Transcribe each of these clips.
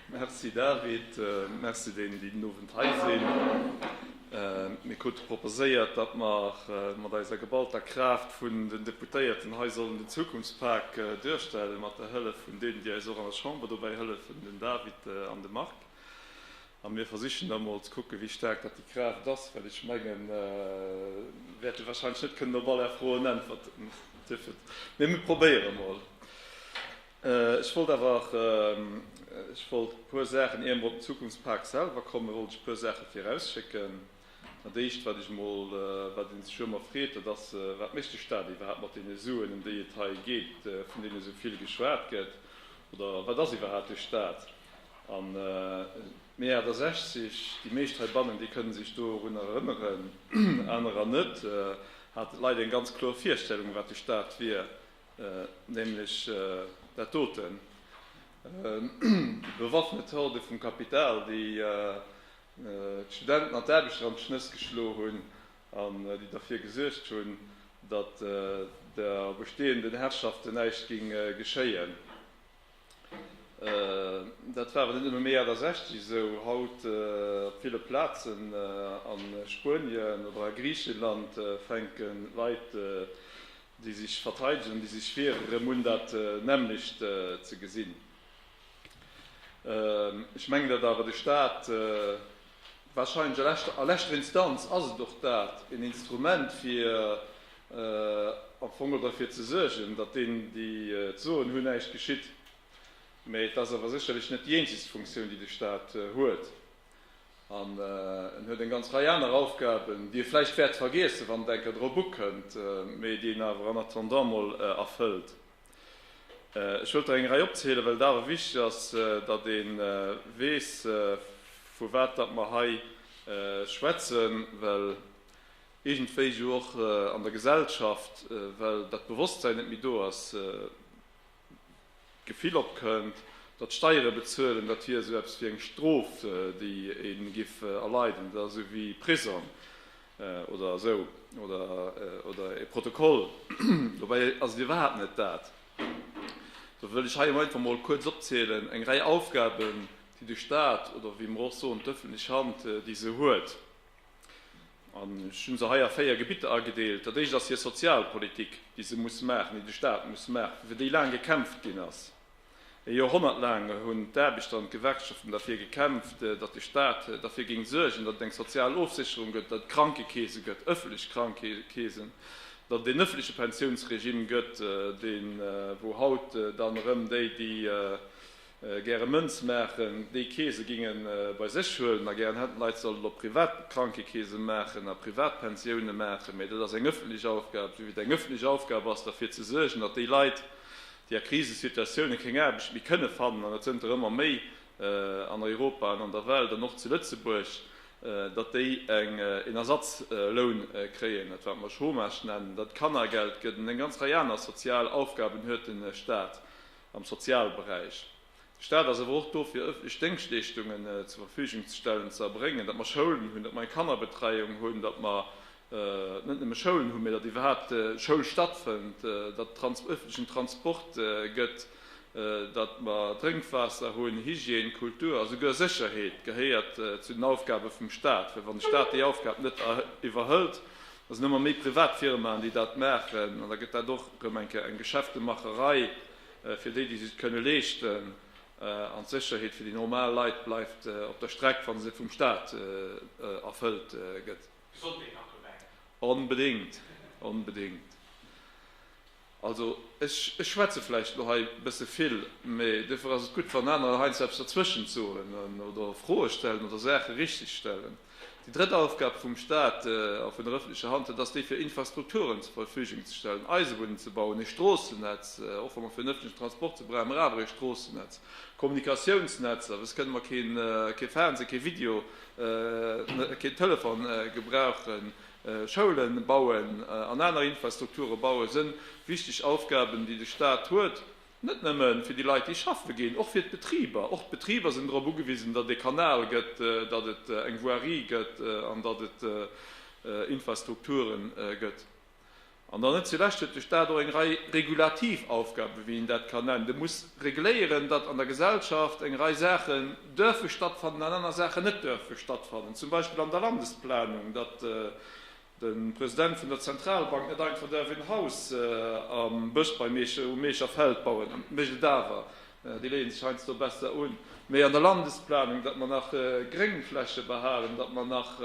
Merci David, merci deenen, déi den Owend hei sinn. Mir krute proposéiert, datt mer mat eiser geballter Kraaft vun den Deputéierten hei sollen den Zukunftspak duerstellen, mat der Hëllef vun deenen, déi eis och an der Chamber dobäi hëllefen, den David an de Marc. A mir versichen da mol ze kucken, wéi staark dat déi Kraaft ass, well ech menge mir wäerte warscheinlech net kënnen op all Är Froen äntwerten dierfen, mee mir probéiere mol. Ech wollt awer, ech wollt e puer Saachen, ier mer op den Zukunftspak selwer kommen, wollt ech e puer Saache virausschécken. Dat Éischt, wat ech mol, wat ee sech jo ëmmer freet, dat ass, Wat mécht de Stat iwwerhaapt mat deene Suen, ëm déi et hei geet, vun deene esou vill geschwat gëtt? Oder wat ass iwwerhaapt e Stat? An Mee 68, déi meescht heibannen, déi kënnen sech dorun erënneren, anerer net, haten d'Leit eng ganz kloer Virstellung, wat de Staat wier, nämlech dat doten, déi bewaffnet Horde vum Kapital, déi d'Studenten an d'Aarbechter an d'Schnëss geschlo hunn an déi derfir gesuergt hunn, datt der bestehenden Herrschaften näischt géing geschéien. Dat war awer net nëmme Mee 68 esou. Haut op ville Plazen a Spuenien oder a Griicheland fänke Leit, déi sech verteidegen an déi sech wieren, erëm un dat nämmlecht ze gesinn. Ech mengen, datt awer de Staat, Wahrscheinlech a leschter Instanz ass et och dat, een Instrument fir am Fong och derfir ze suergen, datt deenen, déi d'Soen hunn, näischt geschitt. Mä et ass awer sécherlech net déi eenzegst Funktioun, déi de Stat huet. An en huet eng ganz Rei aner Aufgaben, déi e vläicht wäert vergiessen, wann en enker drop ukënnt, mä déi en awer en attendant mol erfëllt. Ech wëllt der eng Rei opzielen, well et awer wichteg ass, datt ee weess, vu wat datt mer hei schwätzen, well iergendwéi jo och an der Gesellschaft, well dat Bewosstsein net méi do ass, d'Gefill opkënnt, datt Steiere bezuelen, dat wier esou eppes wéi eng Strof, déi ee giff erleiden, dat ass esou wéi Prisong. Oder esou. Oder, oder e Protokoll. Dobäi ass et iwwerhaapt net dat. Dofir wëll ech hei emol einfach mol kuerz opzielen, eng Rei Aufgaben, déi de Stat, oder wéi mer och soen, d'öffentlech Hand, déi se huet. An ech hu se hei a véier Gebitter agedeelt. Dat éischt ass hir Sozialpolitik, déi se muss maachen, déi de Stat muss maachen, fir déi laang gekämpft ginn ass. E Joerhonnert laang hunn d'Aarbechter an d'Gewerkschaften derfir gekämpft, datt de Staat derfir géing suergen, datt et eng sozial Ofsécherung gëtt, datt et Krankekeese gëtt, ëffentlech Krankekeesen, datt et een ëffentleche Pensiounsregime gëtt, dee wou haut dann erëm déi, déi gäre Mënz maachen, déi Keese géinge bei sech huelen a gären hätten, d'Leit sollen op privat Krankekeese maachen a privat Pensioune maachen. Mä dat ass eng ëffentlech Aufgab, souwéi et eng ëffentlech Aufgab ass derfir ze suergen, datt déi Leit, déi a Krisesituatioune keng Aarbecht méi kënne fannen, an dat sënn der ëmmer méi an Europa an an der Welt an och zu Lëtzebuerg, datt déi en Ersatzloun kréien, dat wat mer Chômage nennen, datt et Kannergeld gëtt an eng ganz Rei aner sozial Aufgaben huet de Staat am Sozialberäich. De Staat ass awer och do fir ëffentlech Déngschtleeschtungen zur Verfügung ze stellen, ze erbréngen, datt mer Schoulen hunn, datt mer eng Kannerbetreiung hunn, datt mer net nëmme Schoulen hunn, mä datt iwwerhaapt Schoul stattfënnt, datt et ëffentlechen Transport gëtt, datt mer Drénkwaasser hunn, Hygiène, Kultur, a souguer Sécherheet gehéiert zu den Aufgabe vum Staat. Well wann de Staat déi Aufgab net iwwerhëlt, da sinn ëmmer méi Privatfirmaen, déi dat maachen, an da gëtt dat och erëm eng Kéier eng Geschäftemacherei. Fir déi, déi sech et kënne leeschten. An d'Sécherheet fir déi normal Leit bleift op der Streck, wa se vum Staat erfëllt gëtt. Gesondheet nach dobäi. Onbedéngt, onbedéngt. Also, ech schwätze vläicht elo hei e bësse vill, mee duerfir ass et gutt, wann anerer heiansdo eppes derzwëschent soen oder Froe stellen oder Saache richteg stellen. Déi drëtt Aufgab vum Staat a vun der öffentlecher Hand, dat ass déi fir Infrastrukturen zur Verfügung ze stellen, Eisebunn ze bauen, e Stroossenetz, och wa mer fir den öffentlechen Transport se brauchen mer awer e Stroossenetz, Kommunikatiounsnetzer, wësst kënne mer kee Fernseh, kee Video, keen Telefon gebrauchen, Schoule bauen an aner Infrastrukture bauen, sënn wichteg Aufgaben déi de Staat huet. Net nëmme fir déi Leit, déi schaffe ginn, och fir d'Betriber. Och d'Betriber sinn drop ugewisen, datt et ee Kanal gëtt, datt et eng Voirie gëtt an datt et Infrastrukture gëtt. An dann net zulescht huet de Stat och eng Rei regulativ Aufgaben, wéi een dat kann nennen. De muss regléieren, datt an der Gesellschaft eng Rei Saachen duerfe stattfannen an aner Saachen net duerfe stattfannen. Zum Beispill an der Landesplanung, datt De President vun der Zentralbank net einfach därf een Haus am Bësch bei Meecher um Meecher Feld bauen, mécht et awer, déi léie sech heiansdo besser un, méi an der Landesplanung, datt mer nach Gréngfläche behalen, datt mer nach,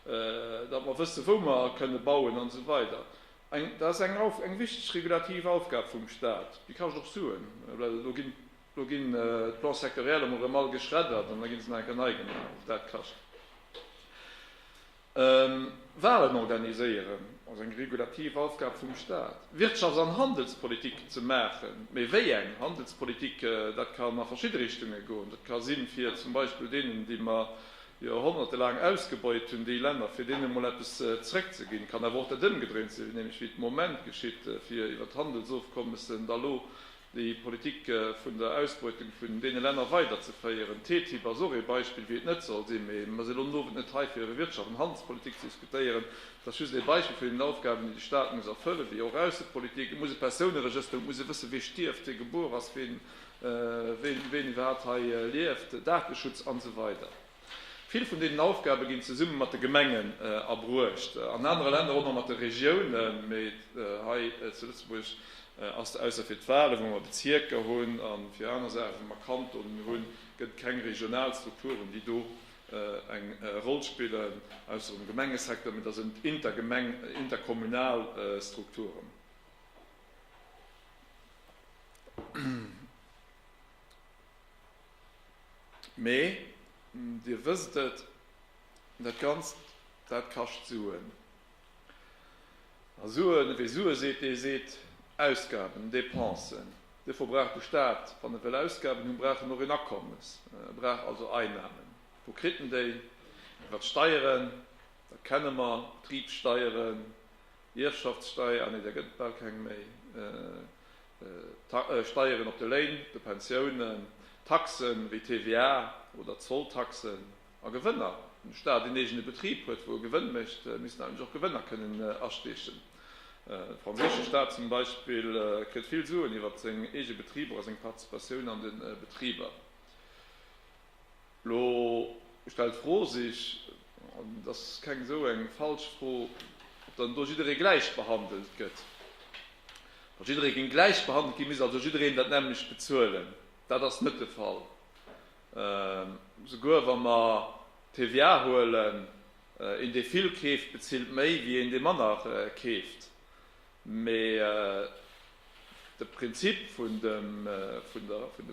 datt mer wësse wou mer kënne bauen an esou weider. Eng, dat ass eng, eng wichteg regulativ Aufgab vum Stat, déi kascht och Suen, well elo ginn, elo ginn d'Plans sectoriels emol erëm all geschreddert an da gi se nach eng Kéier nei gemaach, och dat kascht. Walen organiséieren ass eng regulativ Aufgab vum Staat. Wirtschafts an Handelspolitik ze maachen, mee wéi eng Handelspolitik, dat kann a verschidde Richtunge goen. Dat ka sinn, fir zum Beispill deenen, déi mer Joerhonnerte laang ausgebeut hunn, déi Länner, fir deene mol eppes zréckzeginn. Et kann awer och dat Ëmgedréint sinn, nämlech wéi et am Moment geschitt, fir iwwert Handelsofkommessen da lo déi Politik vun der Ausbeutung vun deene Länner weiderzeféieren. D'TTIP ass och ee Beispill, wéi et net soll sinn. Mee mir sinn elo den Owend net hei, fir iwwer Wirtschaft an Handelspolitik ze diskutéieren. Et ass just ee Beispill vun deenen Aufgaben, déi de Stat muss erfëllen, wéi och Aussepolitik. Et muss e Persouneregëster, et muss ee wëssen, wee stierft, wee gebuer ass, ween iwwerhaapt hei lieft, Dateschutz, an esou weider. Vill vun deenen Aufgabe ginn zesumme mat de Gemengen erbruecht, an anere Länner och nach mat de Regiounen, mee hei zu Lëtzebuerg ass dat, ausser fir d'Wale wou mer Bezierker hunn a fir aner Saache wou mer Kantonen hunn, gëtt et keng regional Strukturen déi do eng Roll spillen, ausser um Gemengesecteur, mee da sinn et intergemeng, interkommunal Strukturen. Mee Dir wësst et, dat Ganzt, dat kascht Suen. A Suen, ewéi Sue seet, dee seet Ausgaben, Dépensen. Dofir brauch de Stat, wann e wëll Ausgaben hunn, brauch en och een Akommes. E brauch also Einnahmen. Wou kritt en déi? Iwwer d'Steieren, dat kenne mer, Betribssteieren, Ierfschaftssteier, ah nee, där gëtt et bal keng méi, Steieren op de Léin, de Pensiounen, Taxe wéi TVA oder Zolltaxen a Gewënner. Wann de Staat een eegene Betrib huet, wou e Gewënn mécht, misst en eigentlech och Gewënner kënnen astiechen. De franséische Staat zum Beispill kritt vill Suen iwwert seng eege Betriber a seng Participatioun an de Betriber. Lo stellt d'Fro sech, an et ass keng esou eng falsch Fro, ob dann do jidderee gläich behandelt gëtt. Wa jidderee géing gläich behandelt ginn, misst also jiddereen dat nämmlecht bezuelen. Dat ass net de Fall. Souguer wa mer d'TVA huelen, een dee vill keeft, bezilt méi wéi een dee manner keeft. Mee de Prinzip vun der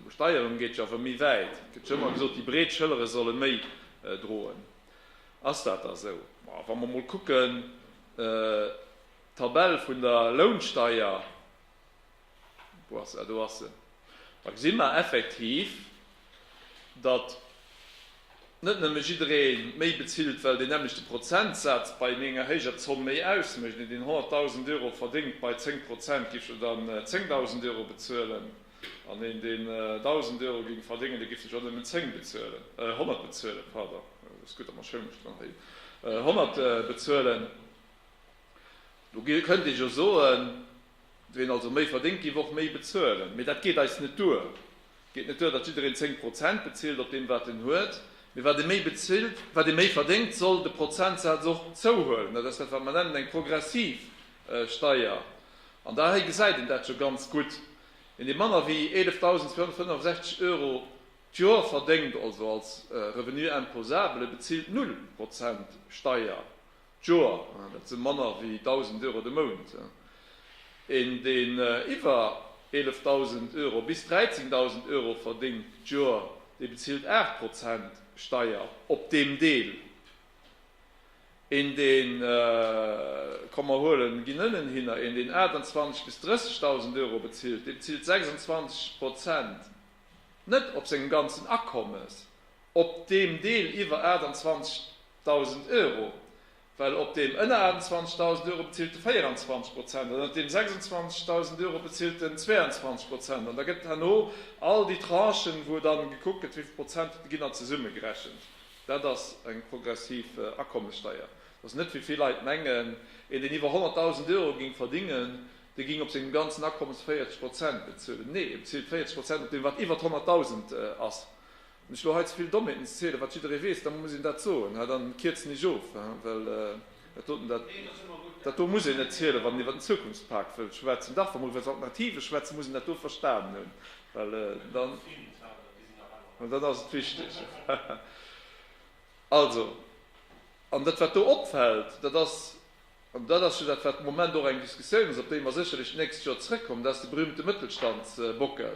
Besteierung geet jo awer méi wäit. Et gëtt jo ëmmer gesot, déi breet Schëllere solle méi droen. Ass dat da esou? Ma wa mer emol kucken, d'Tabell vun der Lounsteier, Wou ass se? Ah, do ass se. Da gesi mer effektiv, datt net nëmme jidderee méi bezilt, well deen nämmlechte Prozentsaz bei enger héijer Zomm méi ausmécht. Een, deen 100.000 Euro verdéngt, bei 10 Prozent géif jo dann 10.000 Euro bezuelen, an een, deen 1.000 Euro géing verdéngen, dee géif jo dann nëmmen 10 bezuelen, 100 bezuelen, pardon, ass gutt, datt mer Schoul mech maachen, 100 bezuelen. Do kënnt ee jo soen. Ween also méi verdéngt géif och méi bezuelen. Mee dat geet eis net duer. Et geet net duer, datt jiddereen 10 Prozent bezilt op deem wat en huet. Mee wat ee méi bezilt, wat ee méi verdéngt, soll de Prozentsaz och zouhuelen. Dat ass dat wat mer nennen eng progressiv Steier. An da hei gesäit een dat scho ganz gutt. Een dee manner wéi 11.465 Euro d'Joer verdéngt, also als Revenu imposable, bezilt null Prozent Steier. Joer, dat si manner wéi 1.000 Euro de Mount. Een, deen iwwer 11.000 Euro bis 13.000 Euro verdéngt d'Joer, dee bezilt 8 Prozent Steier op deem Deel. Een, deen, komm mer huelen, ginn ënnenhinner, een, deen 28 bis 30.000 Euro bezilt, dee bezilt 26 Prozent, net op sengem ganzen Akommes, op deem Deel iwwer 28 Dausend Euro, well op deem ënner 28.000 Euro bezilt de 24 Prozent an ënnert deem 26.000 Euro bezilt den 22 Prozent. An da gëtt et herno all déi Tranchen, wou dann gekuckt gëtt, wéi vill Prozent hutt Der ginn an zesummegerechent. Dat ass eng progressiv Akommessteier. Dat ass net, wéi vill Leit mengen. Een, deen iwwer 100.000 Euro géing verdingen, dee géing op sengem ganzen Akommes 40 Prozent bezuelen. Nee, e bezilt 40 Prozent op deem, wat iwwert 100.000 ass. Wann ech elo hei zevill Dommheeten erzählen, wat jidderee weess, da muss een dat soen. Hä? Dann kierzen ech of, hä? Well dat doten, dat, dat do muss een net zielen, wann een iwwert den Zukunftspak wëllt schwätzen. Dach, wa mer iwwert Alternativen schwätzen, muss een dat do verstanen hunn, well dann, well dann ass et wichteg. Also, an dat wat do opfällt, dat ass, an dat ass jo dat wat de Moment och eng Diskussioun ass, op déi mer sécherlech d'nächst Joer zrëckkommen, dat ass de berühmte Mëttelstandsbockel.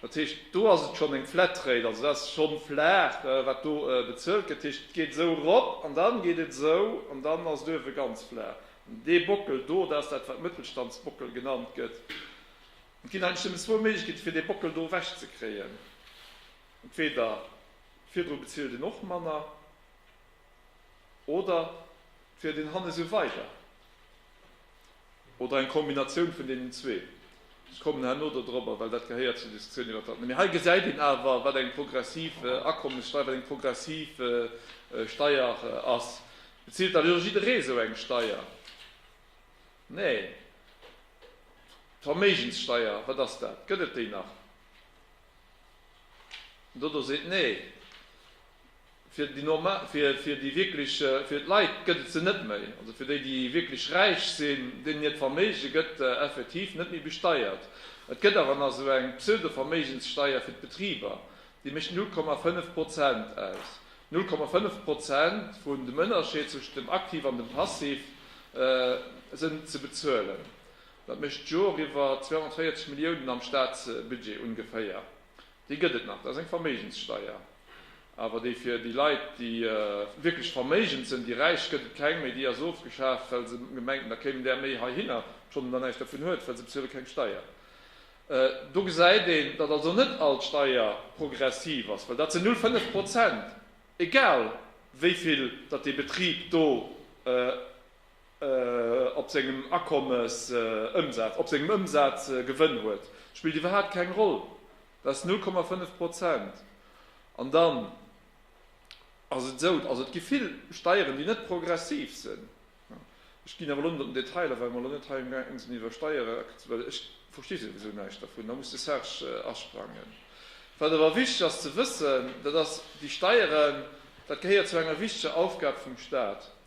Dat heescht, do ass et schonn eng Flatrate, also dat ass schonn flaach, wat do bezuelt gëtt. Dat heescht, et geet esou erop an dann geet et esou an dann ass et uewe ganz flaach. An dee Bockel do, dat ass dat, wat Mëttelstandsbockel genannt gëtt. Et ginn eigentlech nëmmen zwou Méiglechkeeten, fir dee Bockel do ewechzekréien. Entweder virdru bezilt een och manner. Oder wier den Hannes e Weiber? Oder eng Kombinatioun vun deenen zwee? Ech kommen herno do dorobber, well dat gehéiert zur Diskussioun iwwert dat. Mee hei gesäit een awer, wat eng progressiv Akommessteier, wat eng progressiv Steier ass. Bezilt da elo jidderee esou eng Steier? Nee. D'Verméigenssteier, wat ass dat? Gëtt et déi nach? Dodo seet nee. Fir déi normal, fir déi wierklech, fir d'Leit gëtt et se net méi. Also fir déi, déi wierklech räich sinn, deenen hiert Verméige gëtt effektiv net méi besteiert. Et gëtt awer nach esou eng Pseudo-Verméigenssteier fir d'Betriber, déi mécht 0,5 Prozent aus. 0,5 Prozent vun dem Ënnerscheed zwëschent dem Aktiv an dem Passiv sinn ze bezuelen. Dat mécht d'Jor eriwwer 240 Milliounen am Staatsbudget ungeféier. Déi gëtt et nach, dat ass eng Verméigenssteier. Awer déi fir déi Leit, déi wierklech verméigend sinn, déi Räich, gëtt et keng méi. Déi ass ofgeschaaft, well se gemengt hunn, da kéim där méi heihinner, obschonn en der näischt dervun huet, well se bezuele keng Steier. Do gesäit een, datt also net all d'Steier progressiv ass, well dat sinn null fënnef Prozent, egal wéi vill datt dee Betrib do. op sengem Akommes Ëmsaz, op sengem Ëmsaz Gewënn huet, spillt iwwerhaapt keng Roll, dat ass 0,5 Prozent. An dann ass et esou, also et gi vill Steieren, déi net progressiv sinn, ech ginn awer elo net an den Detailer, well mer elo net hei amgaang sinn iwwer Steiere, well ech versti souwisou näischt dervun, da muss de Serge asprangen. Wat awer wichteg ass ze wëssen, dat ass, déi Steieren, dat gehéiert zu enger wichteger Aufgab vum Stat.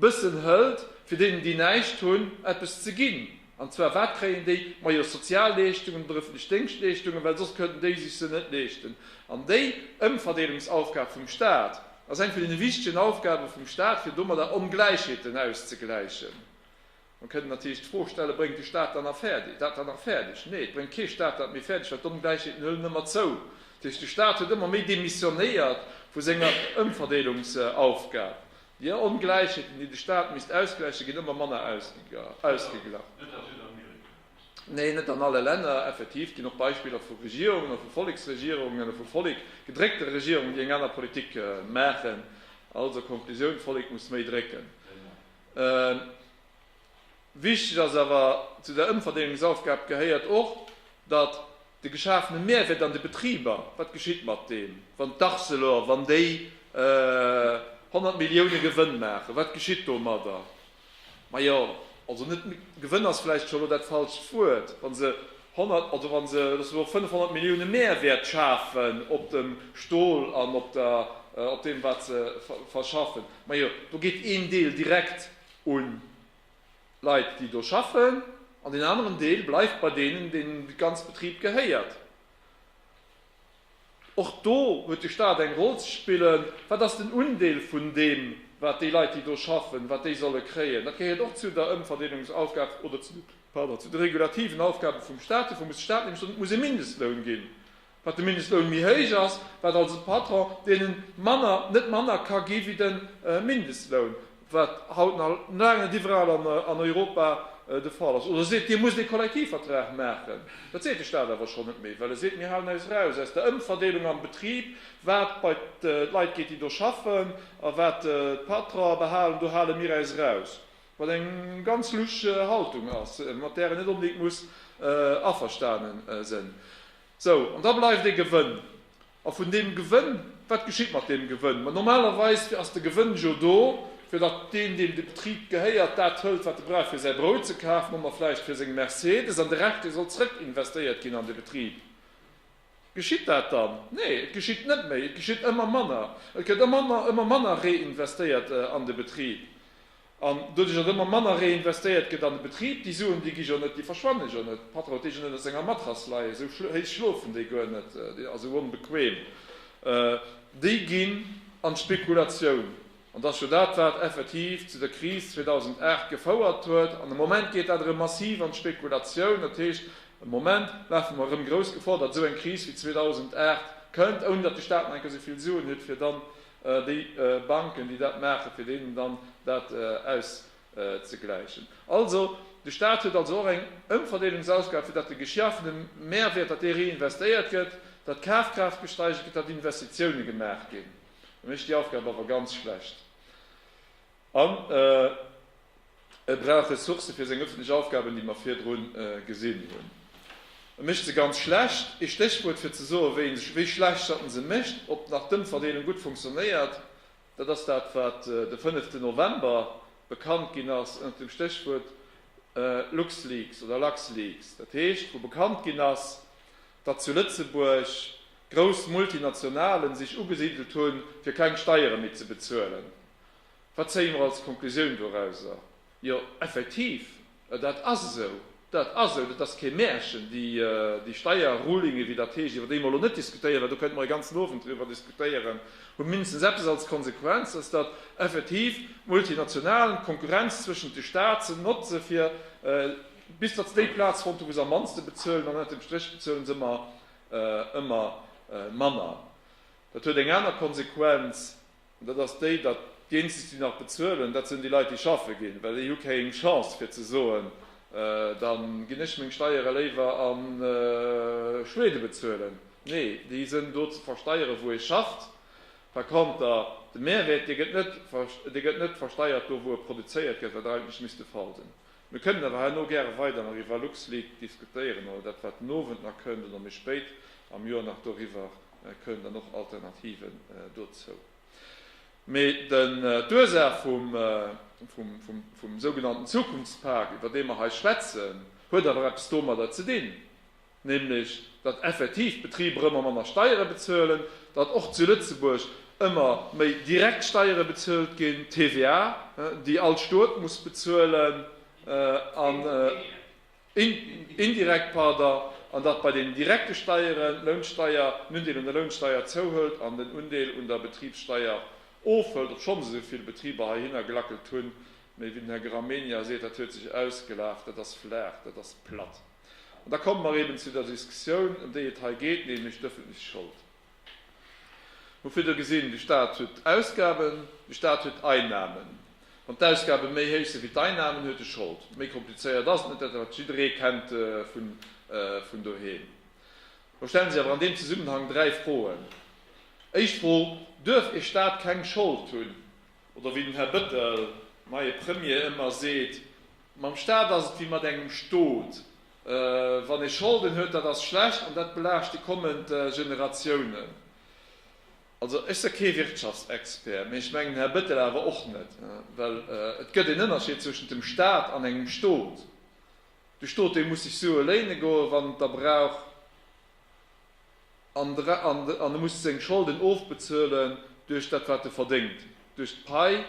Bëssen hëlt, fir deenen, déi näischt hunn, eppes ze ginn. An zwar, wat kréien déi? Majo, Sozialleeschtungen oder ëffentlech Déngschtleeschtungen, well soss kënnten déi sech se net leeschten. An déi Ëmverdeelungsaufgab vum Staat ass eng vun deene wichtegen Aufgabe vum Staat, fir domadder Ongläichheeten auszegläichen. Dann kënnt natierlech d'Fro stellen, Bréngt de Staat dann nach fäerdeg, dat dann nach fäerdeg? Nee, et bréngt kee Staat dat méi fäerdeg, well d'Ongläichheeten hëllen ëmmer zou. Dat heescht, de Staat huet ëmmer méi demissionéiert vu senger Ëmverdeelungsaufgab. Déi Ongläichheeten, déi de Staat misst ausgläichen, ginn ëmmer manner ausgeglach. Net a Südamerika? Nee, net an alle Länner. Effektiv, et ginn och Beispiller vu Regierungen, a vu Volleksregierungen, a vu Vollek gedréckte Regierungen, déi eng aner Politik maachen. Also Konklusioun, D'Vollek muss méi drécken. Wichteg ass awer, Zu der Ëmverdeelungsaufgab gehéiert och, datt de geschafene Mehrwert an de Betriber, wat geschitt mat deem, wann d'Arcelor, wann déi 100 Millioune Gewënn maachen, wat geschitt domadder? Majo, also net Gewënn ass vläicht scho elo dat falscht Wuert, wa se 100, also wa se Lëtzebuerg 500 Millioune Mehrwert schafen op dem Stol an op deem, wat se verschaffen. Majo, do geet een Deel direkt un Leit, déi do schaffen, an deen aneren Deel bleift bei deenen, deenen de ganze Betrib gehéiert. Och do huet de Staat eng Roll ze spillen. Wat ass den Undeel vun deem, wat déi Leit, déi do schaffen, wat déi solle kréien? Dat gehéiert och zu der Ëmverdeelungsaufgab oder zu de, pardon, zu de regulativen Aufgabe vum Staat. Dofir muss de Staat nämlech soen, et muss ee Mindestloun ginn, Wat de Mindestloun méi héich ass, wat also de Patron deenen manner, net manner ka gi wéi de Mindestloun, wat haut nach laang net iwwerall an Europa de Fall ass. Oder seet, Dir musst ee Kollektivvertrag maachen. Dat seet de Staat awer schonn net méi, well e seet, Mir halen eis eraus aus der Ëmverdeelung am Betrib, wat bei d'Leit geet, déi do schaffen, a wat d'Patron'e behalen, do hale mir eis eraus. Wat eng ganz lusch Haltung ass, mat där een net onbedéngt muss averstane sënn. Sou, an da bleift ee Gewënn. A vun deem Gewënn, wat geschitt mat deem Gewënn? Ma normalerweis ass de Gewënn jo do, fir datt deen, deem de Betrib gehéiert, dat hëlt, wat e brauch, fir säi Brout ze kafen oder vläicht fir seng Mercedes, an de Rescht, dee soll zrëckinvestéiert ginn an de Betrib. Geschitt dat dann? Nee, et geschitt net méi, et geschitt ëmmer manner. Et gëtt ëmmer manner reinvestéiert an de Betrib. An doduerch, datt ëmmer manner reinvestéiert gëtt an de Betrib, déi Suen, déi gi jo net, déi verschwanne jo net. De Patron huet déi jo net a senger Matrass leien, esou héich schlofen déi guer net a sou onbequem. Déi ginn an d'Spekulatioun. An et ass jo dat, wat effektiv zu der Kris 2008 gefouert huet. An e Moment geet dat erëm massiv an d'Spekulatioun. Dat heescht, e Moment lafe mer erëm grouss Gefor, datt esou eng Kris wéi 2008 kënnt, ouni datt de Staat nach eng Kéier esou vill Suen huet, fir dann déi Banken, déi dat maachen, fir deenen dann dat auszegläichen. Also, de Staat huet also och eng Ëmverdeelungsaufgab, fir datt de geschaafene Mehrwert, datt dee réinvestéiert gëtt, datt d'Kafkraaft gesteigert gëtt, datt Investitioune gemaach ginn. E mécht déi Aufgab awer ganz schlecht an e brauch Ressourcë fir seng ëffentlech Aufgaben, déi mer virdru gesinn hunn. E mécht se ganz schlecht. Ee Stéchwuert fir ze soen, wéi schlecht datt en se mécht, ob nach d'Ëmverdeelung gutt funktionéiert, dat ass dat, wat de fënneften November bekannt ginn ass ënnert dem Stéchwuert LuxLeaks oder LuxLeaks. Dat heescht, wou bekannt ginn ass, datt zu Lëtzebuerg grouss Multinationalen sech ugesidelt hunn, fir keng Steiere méi ze bezuelen. Wat zéie mer als Konklusioun dorauser? Jo, effektiv, dat ass esou, dat ass esou, dat ass kee Märchen. Déi Steierrulinge, wéi dat heescht, iwwer déi mer elo net diskutéieren, well do kënnte mer e ganzen Owend driwwer diskutéieren, hu mindestens eppes als Konsequenz, dass dat effektiv d'Multinationalen d'Konkurrenz zwëschent de Staaten notze fir, bis dass se déi Plaz fonnt hunn, wou se am mannste bezuelen, an ënnert dem Stréch bezuelen se ëmmer ëmmer manner. Dat huet eng aner Konsequenz, an dat ass déi, datt déi eenzeg, déi nach bezuelen, dat sinn déi Leit, déi schaffe ginn, well déi hu kéng Chance fir ze soen, da ginn ech meng Steiere léiwer a Schwede bezuelen. Nee, déi sinn do ze versteieren, wou ee schafft. Par konter, de Mehrwert, dee gëtt net versteiert do, wou e produzéiert gëtt, wat eigentlech misst de Fall sinn. Mir kënnen awer herno gäre weider nach iwwer LuxLeak diskutéieren oder dat, wat den Owend nach kënnt oder méi spéit am Joer nach doriwwer kënnt an och Alternativen dozou. Mee den, d'Ursaach vum, vum sougenannten Zukunftspak, iwwer dee mer hei schwätzen, huet awer eppes domadder ze dinn, nämlech datt effektiv d'Betriber ëmmer manner Steiere bezuelen, datt och zu Lëtzebuerg ëmmer méi direkt Steiere bezuelt ginn, TVA, déi all Stot muss bezuelen, an indirekt, pardon, an datt bei den direkte Steieren d'Lounsteier, den Undeel un der Lounsteier zouhëlt an den Undeel un der Betribssteier ofhëlt, obschonns esou vill Betriber heihinner gelackelt hunn, mä wéi den Här Gramegna seet, dat huet sech ausgelaf, dat ass flach, dat ass platt. An da komme mer eben zu der Diskussioun, ëm déi et hei geet, nämlech d'öffentlech Schold. Mir hu virdu gesinn, De Stat huet Ausgaben, de Stat huet Einnahmen. Wann d'Ausgabe méi héich sinn wéi d'Einnahmen, huet e Schold. Méi komplizéiert ass et net, dat wat jidderee kennt vun doheem. Elo stellen sech awer an deem Zesummenhang dräi Froen. Éischt Fro, Duerf e Stat keng Schold hunn? Oder wéi den Här Bettel, neie Premier, ëmmer seet, Mam Staat ass et wéi mat engem Stot, wann ee Scholden huet, dat ass schlecht an dat belaascht déi kommend Generatiounen. Also ech se kee Wirtschaftsexpert, mee ech mengen Här Bettel awer och net, well et gëtt een Ënnerscheed zwëschent dem Staat an engem Stot. De Stot dee muss sech Sue léine goen, wann en et da brauch. an e muss seng Scholden ofbezuelen duerch dat wat e verdéngt, duerch d'Pai,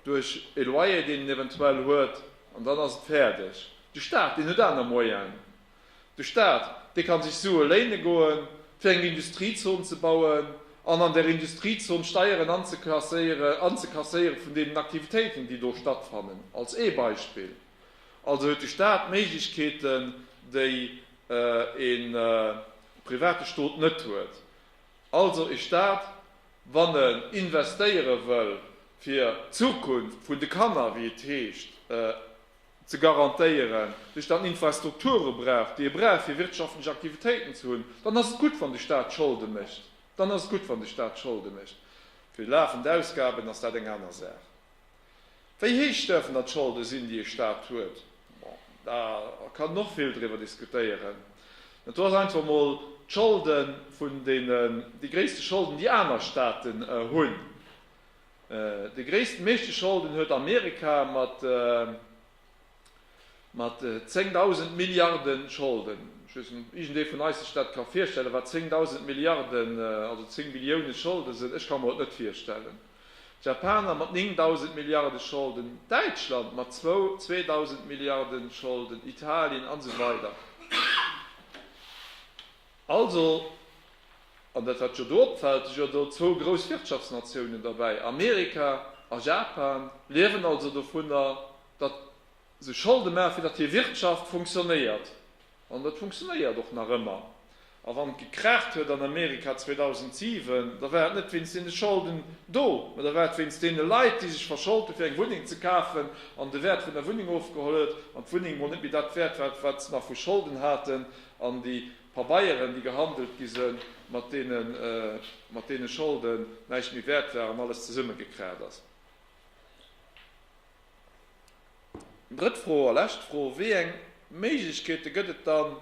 duerch e Loyer deen en eventuell huet an dann ass et fäerdeg. De Staat deen huet aner Moyene. De Staat dee ka sech Sue léine goen, fir eng Industriezon ze bauen an an där Industriezon Steieren anzekasséieren vun deenen Aktivitéiten déi do stattfannen, als ee Beispill. Also huet de Staat Méiglechkeeten, déi e private Stot net huet. Also e Staat, wann e investéiere wëll, fir d'Zukunft vun de Kanner, wéi et heescht, ze garantéieren, sech dann Infrastrukture brauch, déi e brauch, fir wirtschaftlech Aktivitéiten ze hunn, dann ass et gutt, wann de Staat Scholde mécht. Dann ass et gutt, wann de Staat Scholde mécht. Fir lafend Ausgaben ass dat eng aner Saach. Wéi héich däerfen dann d'Scholde sinn, déi ee Staat huet? Bon, da kann een och vill driwwer diskutéieren. Mä do ass einfach emol d'Scholde vun deenen, déi gréisste Scholden, déi aner Staaten hunn. Déi gréissten, meeschte Scholden huet Amerika mat Mat 10.000 Milliarde Scholden, ech weess net, ob iergendee vun eis sech dat ka virstellen, wat 10.000 Milliarde, also 10 Billioune Scholde sinn, ech ka mer et net virstellen, d'Japaner mat 9.000 Milliarde Scholden, Däitschland mat zwou 2.000 Milliarde Scholden, Italien, an esou weider. Also, an dat wat jo do opfällt, si jo do zwou grouss Wirtschaftsnatiounen derbäi, Amerika a Japan liewen also dovunner, datt se Scholde maachen, fir datt hir Wirtschaft funktionéiert. An dat funktionéiert och nach ëmmer. A wann et gekraacht huet an Amerika 2007, da war et net wéinst deene Scholden do, mä da war et wéinst deene Leit, déi sech verscholt hunn, fir eng Wunneng ze kafen, an de Wäert vun der Wunneng ofgeholl huet an d'Wunneng emol net méi dat Wäert war, wat se nach vu Scholden haten. An déi Pabeieren, déi gehandelt gi sinn, mat deene mat deene Scholden näischt méi wäert war an alles zesummegekracht ass. Drëtt Fro a lescht Fro, Wéi eng Méiglechkeete gëtt et dann,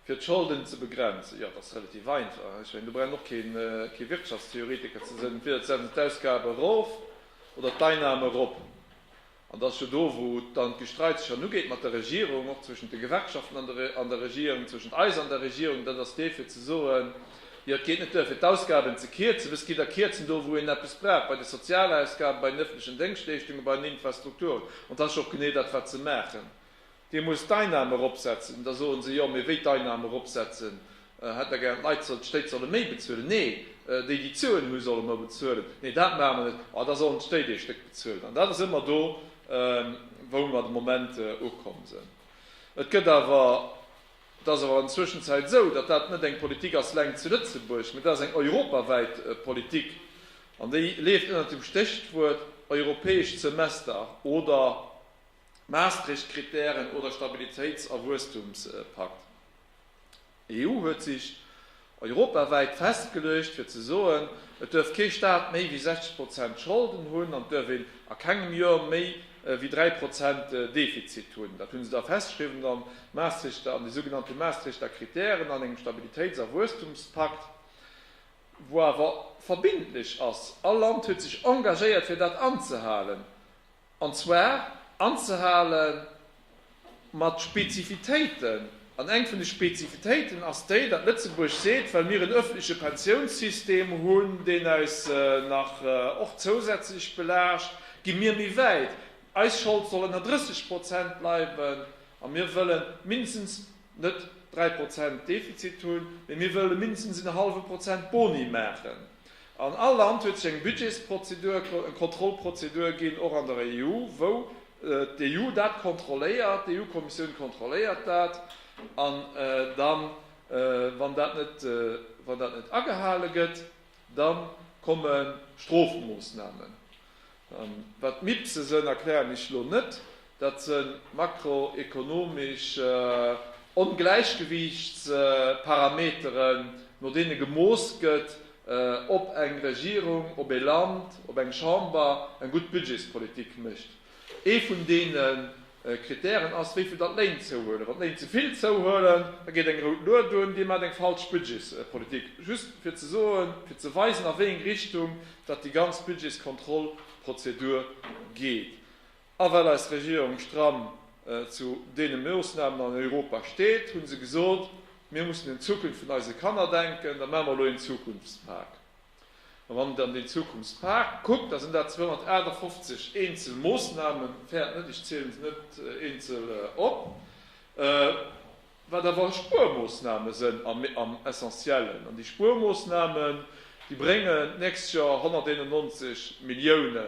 fir d'Scholden ze begrenzen? Jo, dat ass relativ einfach. Ech mengen, do brauch een och kee Wirtschaftstheoretiker ze sinn. Entweder et setzen d'Ausgabe erof oder d'Einname erop. An dat ass jo do, wou dann d'Gestreits sech dann ugeet mat der Regierung, och zwëschent de Gewerkschaften an der Regierung, zwëschent eis an der Regierung, dat ass dee fir ze soen, jo et geet net duer fir d'Ausgaben ze kierzen, wësst, gitt der kierzen do, wou een eppes brauch, bei de Sozialausgaben, bei den öffentlechen Déngschtleeschtungen, bei den Infrastrukturen. An dat ass jo och genee dat, wat ze maachen Dir musst d'Einnahm eropsetzen. Da soen se, Jo, mee wéi d'Einnahm eropsetzen? Hätt Der gären, d'Leit soll, d'Stéit solle méi bezuelen? Nee, déi, déi Zuen hu solle méi bezuelen. Nee, dat maache mer net. Oh, da sollen d'Stéit ee Stéck bezuelen. An dat ass ëmmer do, wou mer de Moment ukomm sinn. Et gëtt awer, et ass awer an Zwëschenzäit esou, datt dat net eng Politik ass eleng zu Lëtzebuerg, mee dat ass eng europawäit Politik. An déi leeft ënnert dem Stéchwuert europäesch Semester oder Maastricht-Kritären oder Stabilitéits a Wuesstumspakt. EU huet sech europawäit festgeluecht fir ze soen, et duerf kee Staat méi wéi 60 Prozent Scholden hunn an et duerf een a kengem Joer méi wéi 3 Prozent Defizit hunn. Dat hu se da festgeschriwwen am Maastrichter, an de sougenannte Maastrichter Kritären, an engem Stabilitéits a Wuesstumspakt, wou awer verbindlech ass, all Land huet sech engagéiert fir dat anzehalen. an zwar anzehale mat Spezifitéiten, an eng vun de Spezifitéiten ass déi, datt Lëtzebuerg seet, well mir en öffentleche Pensiounssystem hunn, deen eis nach och zousätzlech belaascht, gi mir méi wäit, eis Schold soll ënner 30 Prozent bleiwen a mir wëlle mindestens net 3 Prozent Defizit hunn, mee mir wëlle mindestens en hallwe Prozent Boni maachen. An all Land huet seng Budgetsprozedur, Kontrollprozedur ginn, och an der EU, wou d'EU dat kontrolléiert, d'EU-Kommissioun kontrolléiert dat. An dann, wann dat net, wann dat net agehale gëtt, da komme Strofmoossnamen. Wat d'MIPSe sënn, erklären ech lo net. Dat së makroekonomesch Ongläichgewiichtsparameteren, no deene gemooss gëtt, ob eng Regierung, ob ee Land, ob eng Chamber eng gutt Budgetspolitik mécht. Ee vun deene Kritären ass, wéivill dann d'Léin zouhuelen. Wann d'Léin ze vill zouhuelen, da geet eng rout Lued un, Dir maacht eng falsch Budgetspolitik. Just fir ze soen, fir ze weisen, a wéi eng Richtung datt déi ganz Budgetskontrollprozedur geet. A well eis Regierung stramm zu deene Moosnamen an Europa steet, hu se gesot, Mir mussen un d'Zukunft vun eise Kanner denken, da maache mer elo een Zukunftspak. A wann et an deen Zukunftspak kuckt, da sinn dat 258 eenzel Moossnamen, fäert net, ech zielen se net eenzel op, wat awer Spuermoossname sënn am Essentiellen. An déi Spuermoossnamen, déi bréngen d'nächst Joer 191 Millioune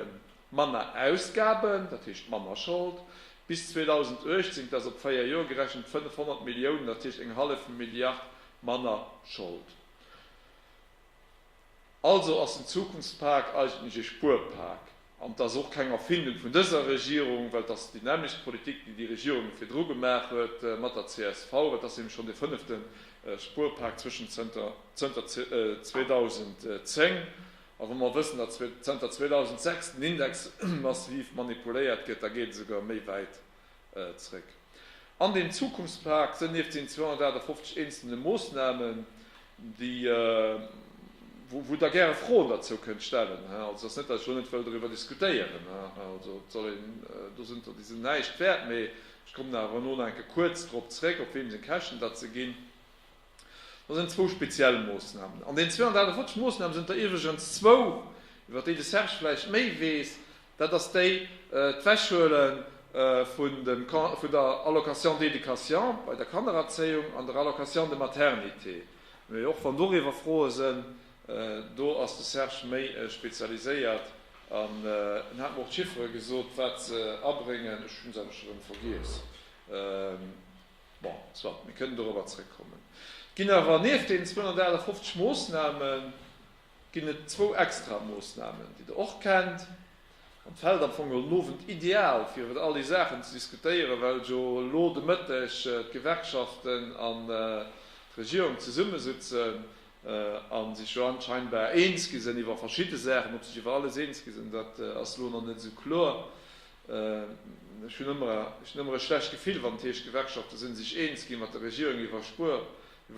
manner Ausgaben, dat heescht manner Schold, bis 2018, dat ass op 4 Joer gerechent, 500 Milliounen, dat heescht eng hallef Milliard manner Schold. Also ass den Zukunftspak eigentlech ee Spuerpak. An et ass och keng Erfindung vun dëser Regierung, well et ass déi nämmlecht Politik, déi déi Regierung virdru gemaach huet mat der csv. Et ass eben schonn dee fënnefte Spuerpak zwëschen zënter 2010. A wa mer wëssen, datt zënter 2006 den Index massiv manipuléiert gëtt, da geet et esouguer méi wäit Zréck an den Zukunftspak sënn nieft den 258 eenzelne Moosnamen, déi, wou Der gäre Froen derzou kënnt stellen, also et ass net, datt ech elo net wëll doriwwer diskutéieren, also et soll een, do sënn der, déi sinn näischt wäert, mee ech kommen awer elo nach enke kuerz drop zréck, op wem seng Käschten dat se ginn. Dat sinn zwou speziell Moossnamen. An deen 248 Moossnamen sinn der iwwregens zwou, iwwert déi de Serge vläicht méi weess, dat ass déi, d'Wechhuele vun der Allocation d'éducation bei der Kannererzéiung an der Allocation de maternité, mee och wann doriwwer Froe sënn, do ass de Serge méi spezialiséiert an en hat mer och d'Chiffere gesot, wat se abréngen. Ech hu se awer scho erëm vergiess. Bon, soit, mir kënnen dorobber zrëckkommen. Et ginn awer nieft deenen 258 Moosname ginn et zwou extra Moosnamen, déi Der och kennt. An et fält am Fong geholl den Owend ideal, fir iwwer all déi Saachen ze diskutéieren, well jo elo de Mëtteg d'Gewerkschaften an d'Regierung zesummesitzen a sech jo anscheinbar eens gi sinn iwwer verschidde Saachen. Ob sech iwwer alles eens gi sinn, dat ass elo nach net esou kloer. Ech hunn ëmmer e schlecht Gefill, wann et heescht, d'Gewerkschafte sinn sech eens gi mat der Regierung iwwer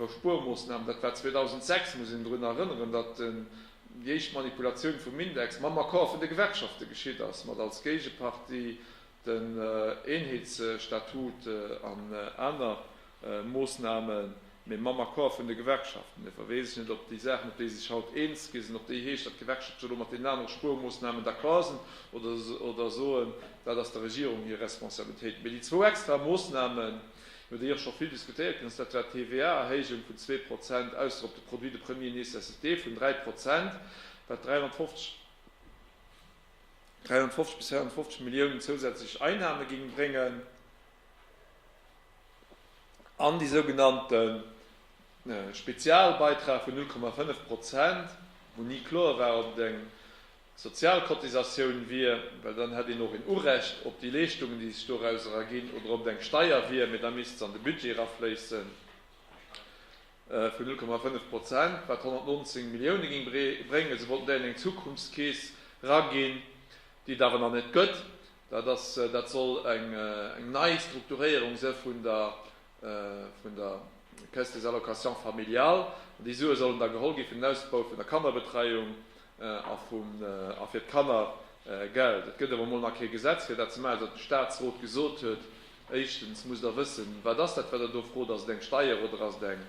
Spuermoossnamen. Dat war 2006, muss een drun erënneren, datt déi éischt Manipulatioun vum Index mam Accord vun de Gewerkschafte geschitt ass, mat als Géigepartie den Eenheetsstatut an aner. Moossnamen, mee mam Accord vun de Gewerkschaften. Dofir weess ech net, ob déi Saachen, op déi si sech haut eens gi sinn, ob déi heescht, datt d'Gewerkschaften elo mat deenen anere Spuermoossnamen d'accord sinn oder soen, dat ass der Regierung hir Responsabilitéit. Mee déi zwou extra Moossnamen, iwwer déi och scho vill diskutéiert ginn ass, dat war d'TVA-Erhéijung vun zwee Prozent ausser op de Produits de première nécessité vun dräi Prozent, wat 350 bis 450 Milliounen zousätzlech Einnahme géing bréngen. An déi sougenannte Spezialbeitrag vun 0,5 Prozent, wou ni kloer war, ob et eng Sozialcotisatioun wier, well dann hätt een och een Urecht op déi Leeschtungen, déi sech doraus erginn, oder ob et eng Steier wier, mee da misst se an de Budget erafléissen, vun 0,5 Prozent, wat 119 Millioune géing bréngen. Se wollten dat an eng Zukunftskeess eraginn, déi et awer nach net gëtt. Dat ass, dat soll eng nei Strukturéierung se vun der, vun der Caisse des allocations familiales. An déi Sue sollen da geholl gi fir den Ausbau vun der Kannerbetreiung a vum, a fir d'Kannergeld. Et gëtt awer emol nach kee Gesetz fir dat ze maachen, datt de Statsrot gesot huet, éischtens muss Der wëssen, wat ass dat, wat Der do frot, ass et eng Steier oder ass et eng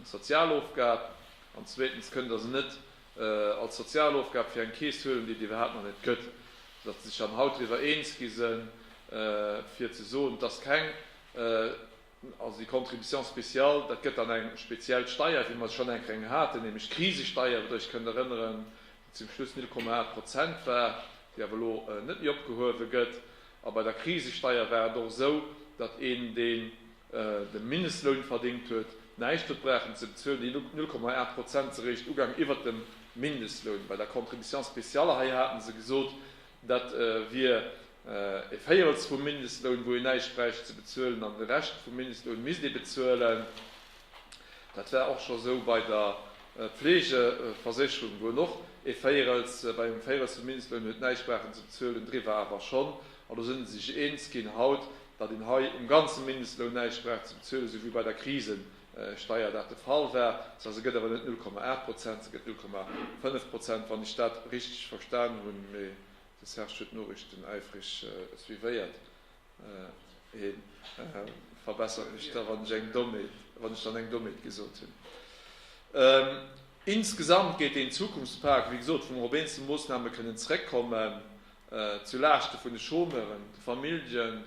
sozial Ofgab? An zweetens kënnt Der se net als sozial Ofgab fir eng Keess huelen, déi et iwwerhaapt nach net gëtt, datt se sech dann haut driwwer eens gi se fir ze soen, dass keng, also déi Contribution spéciale, dat gëtt dann eng speziell Steier, wéi mer se schonn eng Kéier haten, nämlech d'Krisesteier, wat Der Iech kënnt erënneren, déi zum Schluss 0,8 Prozent war, déi awer elo net méi opgehuewe gëtt. A bei der Krisesteier war et och esou, datt een deen. de Mindestloun verdéngt huet, näischt huet brauchen ze bezuelen, déi 0,8 Prozent si réischt ugaang iwwert dem Mindestloun. Bei der Contribution spéciale hei hate se gesot, dat wier e Véierels vum Mindestloun, wou een näischt bräicht ze bezuelen, an de Rescht vum Mindestloun misst ee bezuelen. Dat war och scho esou bei der Pflegeversécherung, wou en och e Véierels, bei engem Véierels vum Mindestloun huet näischt brauchen ze bezuelen, driwwer awer schonn. An do sinn se sech eens ginn haut, datt een hei um ganze Mindestloun näischt brauch ze bezuelen, esou wéi bei der Krisesteier dat de Fall war. Das heisst, se gëtt awer net 0,8 Prozent, se gëtt 0,5 Prozent, wann ech dat richteg verstan hunn. Mee de Serge huet d'Noriichten äifreg suivéiert. Hie verbessert mech da, wann ech eng Dommheet, wann ech dann eng Dommheet gesot hunn. Insgesamt gétt deen Zukunftspak, wéi gesot, vum Robinson-Moossname kënnen zréckkommen. Zu Laaschte vun de Chômeuren, de Famillje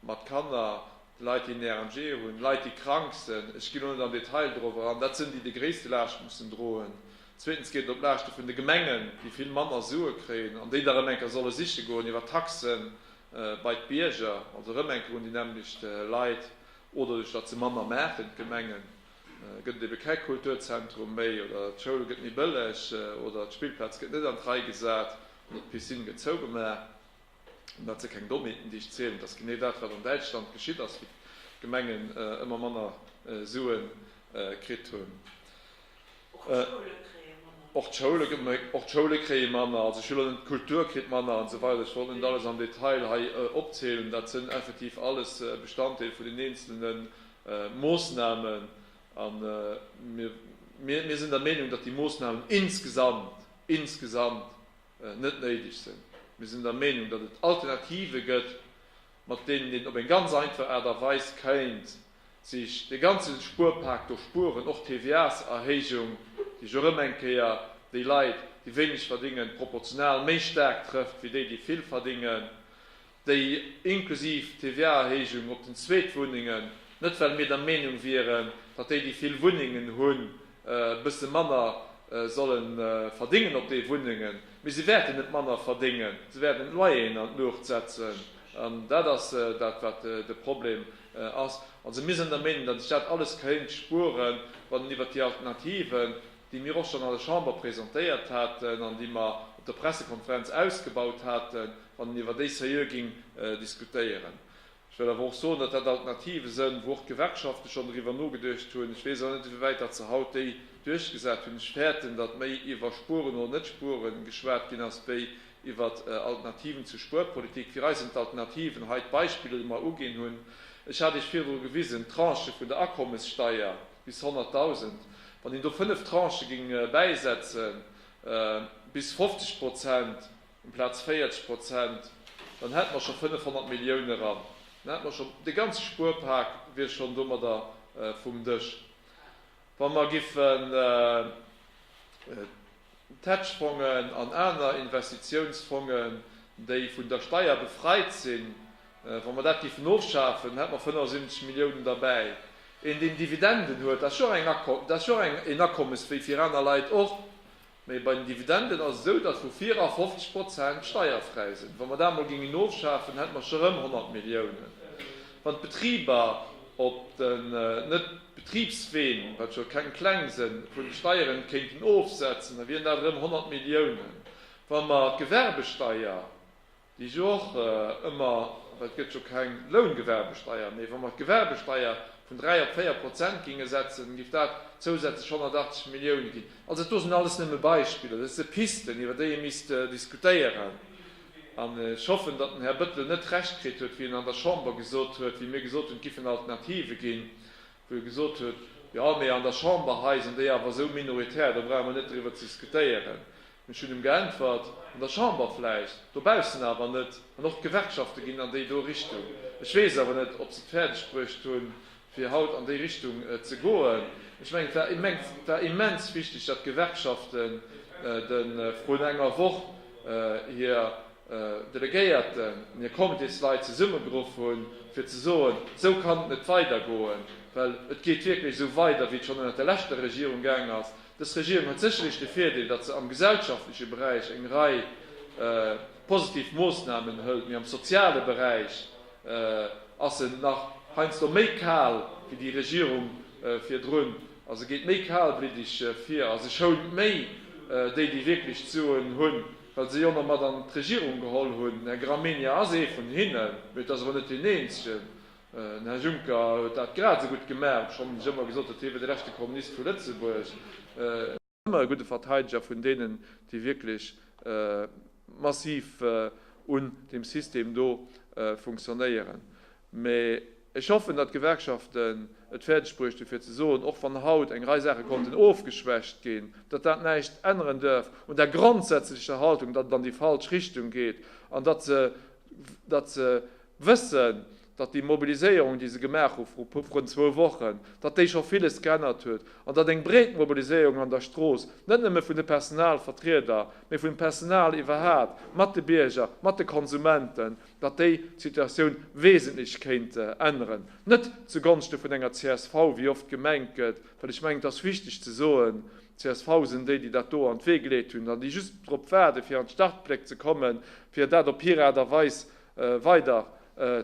mat Kanner, de Leit, déi en RMG hunn, Leit, déi krank sinn. Ech ginn elo net am Detail dorobber an. Dat sinn déi, déi gréisste Laascht mussen droen. Zweetens geet et op Laaschte vun de Gemengen, déi vill manner Sue kréien an déi da erëm eng Kéier solle siche goen iwwert Taxen bei d'Bierger, also erëm eng Kéier un déi nämmlecht Leit oder duerch datt se manner maachen, d'Gemengen. Gëtt et ebe kä Kulturzentrum méi oder d'Schoul gëtt méi bëlleg oder d'Spillplaz gëtt net an d'Rei gesat oder d'Piscine gëtt zougemaach, an dat si keng Dommheeten, déi ech zielen. Et ass genee dat, wat an Däitschland geschitt ass, wou d'Gemengen ëmmer manner Sue kritt hunn. Och d'Schoule kréie manner. Och d'Schoule kréie manner, also ech will elo net, d'Kultur kritt manner an esou weider. Ech wollt net alles am Detail hei opzielen. Dat sinn effektiv alles Bestanddeel vun den eenzelnen Moossnamen, a mir sinn der Meenung, datt déi Moossnamen insgesamt, insgesamt net néideg sinn. Mir sinn der Meenung, datt et Alternative gëtt, mat deenen een op eng ganz einfach Aart a Weis kéint sech dee ganze Spuerpak do spueren, och d'TVAs-Erhéijung, déi ech och erëm eng Kéier déi Leit, déi wéineg verdingen, proportional méi staark trëfft wéi déi, déi vill verdingen. déi inklusiv TVA-Erhéijung op den Zweetwunnengen, net well mir der Meenung wieren, datt déi, déi vill Wunnengen hunn, e bësse manner solle verdéngen op de Wunnengen, mee se wäerten net manner verdéngen, se wäerten d'Loyeren an d'Luucht setzen an dat ass dat, wat de Problem ass. Also mir sinn der Meenung, datt ech dat alles kéint spueren, wann een iwwert déi Alternativen, déi mir och schonn an der Chamber presentéiert haten an déi mer op der Pressekonferenz ausgebaut haten, wann een iwwer déi seriö géing diskutéieren. Ech wëll awer och soen, datt dat Alternative sënn, wou och d'Gewerkschafte schonn driwwer nogeduecht hunn. Ech weess awer net, ewéi wäit datt se haut déi duerchgesat hunn. Ech fäerten, datt méi iwwer Spueren oder net Spueren geschwat ginn ass, wéi iwwer Alternativen zur Spuerpolitik. Fir eis sinn d'Alternativen hei d'Beispiller, déi mer uginn hunn. Ech hat Iech virdru gewisen, d'Tranche vun der Akommessteier bis 100.000, wann een do fënnef Tranchë géing bäisetzen, bis 50 Prozent, um Plaz 40 Prozent, dann hätte mer scho 500 Millioune ran, dann hätte mer scho, de ganze Spuerpak wier schonn domadder vum Dësch. Wa mer giffen d'Hedge-Fongen an aner Investitiounsfongen, déi vun der Steier befreit sinn, wa mer dat giffen ofschafen, hätte mer 75 Milliounen derbäi. Een, deen Dividenden huet, dat ass jo och eng, dat ass jo och een Akommes wéi fir aner Leit och. Mee bei den Dividenden ass et esou, datt vu vir a 50 Prozent steierfräi sinn. Wa mer dat emol géingen ofschafen, hätte mer scho rëm 100 Milliounen. Wann d'Betriber op den Net-Betribsween, wat scho keng kleng sënn, vun de Steieren kéinten ofsetzen, da wieren dat erëm 100 Milliounen. Wa mer d'Gewerbesteier. Déi jo och ëmmer, well et gëtt jo keng Loungewerbesteier méi, wa mer d'Gewerbesteier vun 3 op 4 Prozent géinge setzen, géif dat zousätzlech 180 Millioune ginn. Also do sinn alles nëmme Beispiller, dat si Pisten, iwwer déi ee misst diskutéieren. An ech hoffen, datt den Här Bettel net Recht kritt huet, wéi en an der Chamber gesot huet, wéi mir gesot hunn, et géifen Alternative ginn, wou e gesot huet, Jo, mee an der Chamber hei sinn déi awer esou minoritär, do brauche mer net driwwer ze diskutéieren. Ech hunn em geäntwert, An der Chamber vläicht, dobaussen awer net. An och d'Gewerkschafte ginn an déi do Richtung. Ech weess awer net, ob se et fäerdeg bruecht hunn, fir haut an déi Richtung ze goen. Ech mengen, et war immens wichteg, datt d'Gewerkschaften de vrun enger Woch hir Delegéierten an hir Comitésleit zesummegeruff hunn, fir ze soen, Esou kann et net weidergoen, well et geet wierklech esou weider, wéi et schonn ënnert der leschter Regierung gaang ass. Dës Regierung huet sécherlech de Virdeel, datt se am gesellschaftleche Beräich eng Rei positiv Moossnamen hëlt, mee am soziale Beräich ass se nach heiansdo méi kal wéi déi Regierung virdrun a se geet méi kalbliddeg vir a se schount méi déi, déi wierklech d'Suen hunn, well se jo nach mat an d'Regierung geholl hunn. Den Här Gramegna ass ee vun hinnen, mee dat ass awer net deen eenzegen. Den Här Juncker huet dat grad esou gutt gemaach, obschonn ech ëmmer gesot huet, hie wier de leschte Kommunist vu Lëtzebuerg. Ëmmer e gudde Verteideger vun deenen, déi wierklech massiv un deem System do funktionéieren. Mä ech hoffen, datt d'Gewerkschaften et fäerdeg bruecht hunn, fir ze soen, och wann haut eng Rei Saache konnten ofgeschwächt ginn, datt dat näischt änneren duerf un der grondsätzlecher Haltung, datt et an déi falsch Richtung geet an datt se wëssen, datt déi Mobiliséierung, déi se gemaach hu vru vrun zwou Wochen, datt déi scho villes geännert huet an datt eng breet Mobiliséierung an der Strooss, net nëmme vun de Personalvertrieder, mee vum Personal iwwerhaapt, mat de Bierger, mat de Konsumenten, datt déi d'Situatioun wesentlech kéint änneren. Net zu Gonschte vun enger csv, wéi oft gemengt gëtt, well ech mengen, et ass wichteg ze soen, csv sinn déi, déi dat do an d'Wee geleet hunn an déi just drop waarden, fir an d'Startbléck ze kommen, fir dat op hir Aart a Weis weider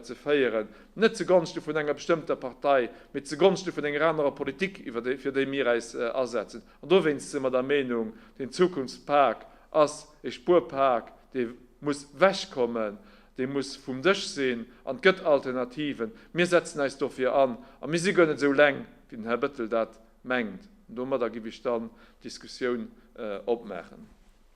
ze féieren, net zu Gonschte vun enger bestëmmter Partei, mee zu Gonschte vun enger anerer Politik, iwwer déi fir déi mir äis asetzen. An dowéinst si mer der Meenung, deen Zukunftspak ass ee Spuerpak, dee muss wech kommen, dee muss vum Dësch sinn, an et gëtt Alternativen. Mir setzen äis dofir an, a mir si guer net esou leng, wéi den Här Bettel dat mengt. An domadder giff ech dann d'Diskussioun opmaachen.